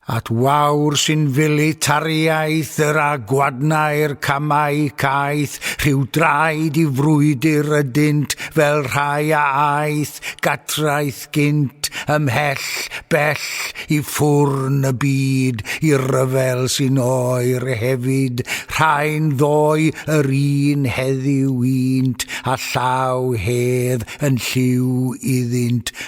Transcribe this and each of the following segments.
At wawr sy'n fili tariaeth yr a gwadnau'r camau caeth, rhyw draed i frwydr ydynt fel rhai a aeth gatraeth gynt, ymhell, bell, i ffwrn y byd, i'r rhyfel sy'n oer hefyd, rhai'n ddoe yr un heddiw unt, a llaw hedd yn lliw iddynt,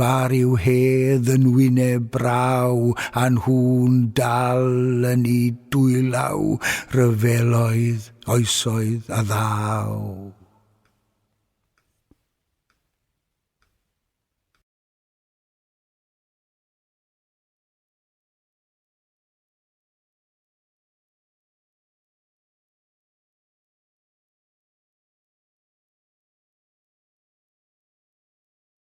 Bar yw hedd yn wyneb braw, a nhw'n dal yn 'u dwylaw, rhyfeloedd, oesoedd a ddaw.